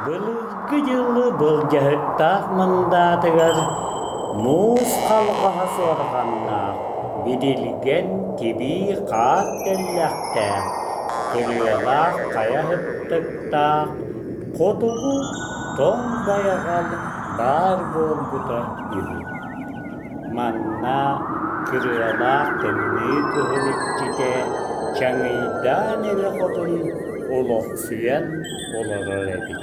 Былыргы дьылы былдьаһыктаах мындаатыгар муус халҕаһа суорҕаннаах, бидилгэн тибии хаар тэллэхтээх, көлүөлээх хайа ыттыктаах Хотугу тоҥ байҕал баар буолбута үһү. Манна кырыалаах тымныы кыһыл иччитэ Чаҥыйдаан эрэ хотун олохсуйан олорор эбит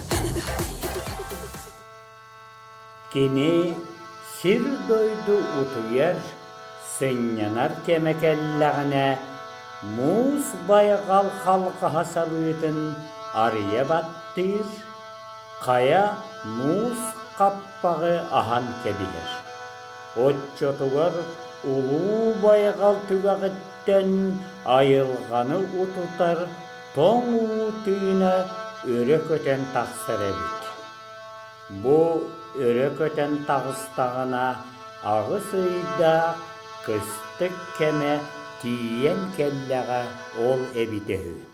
Кини сир-дойду утуйар, сынньанар кэмэ кэллэҕинэ муус байҕал халҕаһа салыытын арыйа баттыыр, хайа муус хаппаҕы аһан кэбиһэр. Оччотугар улуу байҕал түгэҕиттэн айылҕаны утутар тоҥ уу тыына өрө көтөн тахсар эбит. Бу өрө көтөн таҕыстаҕына аҕыс ыйдаах кыстык кэмэ тиийэн кэллэҕэ ол эбитэ үһү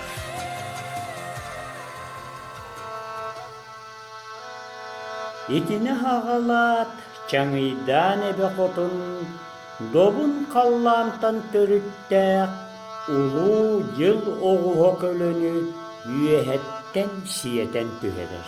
Итини аҕалаат Чаҥыйдаан эбэ хотун добун халлаантан төрүттээх улуу дьыл оҕуһа көлөнү үөһэттэн сиэтэн түһэрэр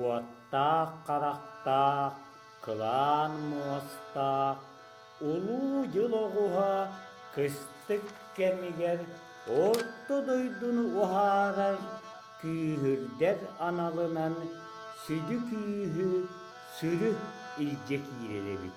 Уоттаах-харахтаах, кылаан муостаах Улуу дьыл оҕуһа кыстык кэмигэр Орто дойдуну уһаарар күүһүрдэр аналынан сүдү күүһү, сүрү илдьэ киирэр эбит.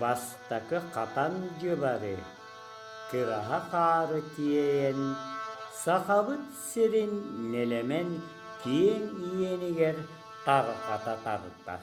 бастакы хатан дьылары кыраһа хаары тиэйэн Сахабыт сирин нэлэмэн киэҥ иэнигэр тарҕата тардар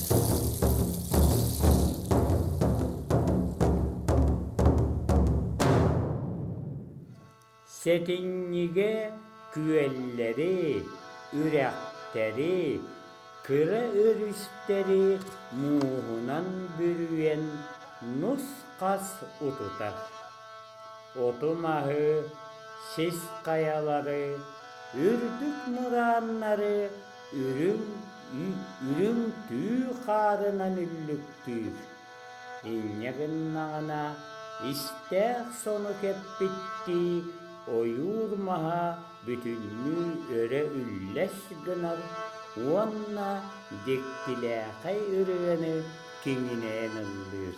Сэтинньигэ күөллэри, үрэхтэри, кыра өрүстэри мууһунан бүрүйэн нус-хас утутар. Оту-маһы, сис хайалары, үрдүк мырааннары Үрүҥ түү хаарынан үллүктүүр. Инньэ гыннаҕына, истээх сону кэппиттии ойуур маһа бүтүннүү өрө үллэс гынар уонна дьиктилээхэй ырыаны киҥинэйэн ыллыыр.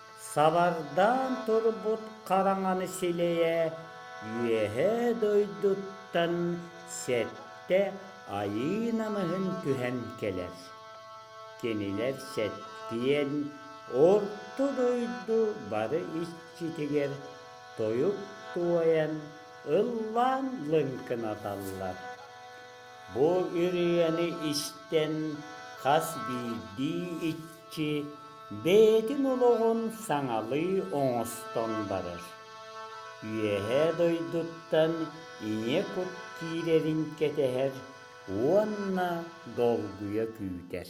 Сабардаан турбут хараҥаны силэйэ Үөһээ дойдуттан сэттэ айыы намыһын түһэн кэлэр. Кинилэр сэттиэн орто дойду бары иччитигэр тойук туойан, ыллаан лыҥкынаталлар. Бу ырыаны истэн хас биирдии иччи Чэ, бэйэтин олоҕун саҥалыы оҥостон барар. Үөһээ дойдуттан ийэ кут киирэрин кэтэһэр уонна долгуйа күүтэр.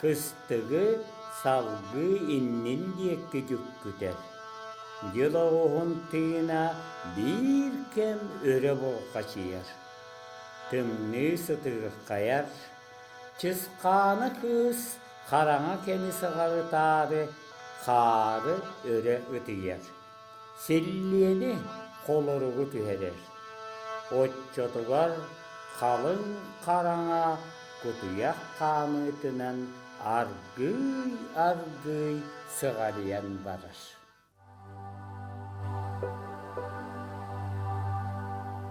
Кыстыгы салгыы иннин диэки дьүккүтэр. Дьыл оҕуһун тыына биир кэм өрө булҕачыйар. Тымныы сытыырхайар. Чысхаана кыыс хараҥа кэми сыҕарытаары хаары өрө ытыйар. Силлиэни холоругу түһэрэр, оччотугар халыҥ хараҥа кутуйах хаамыытынан аргыый-аргыый сыҕарыйан барар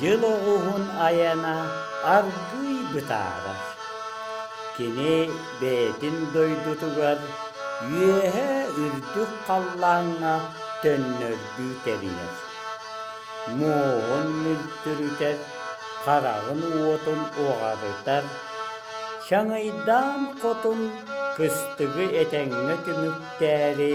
Дьыл оҕуһун айана аргыый бытаарар. Кини бэйэтин дойдутугар үөһэ үрдүк халлааҥҥа төннөрдүү кэбиһэр. Муоһун мүлтүрүтэр, хараҕын уотун уҕарытар. Чаҥыйдаан хотун кыстыгы этэҥҥэ түмүктээри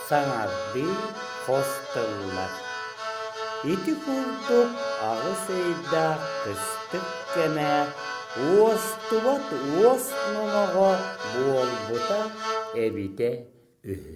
саҥардыы хос тыллар. Ити курдук аҕыс ыйдаах кыстык кэмэ уостубат уос номоҕо буолбута эбитэ үһү.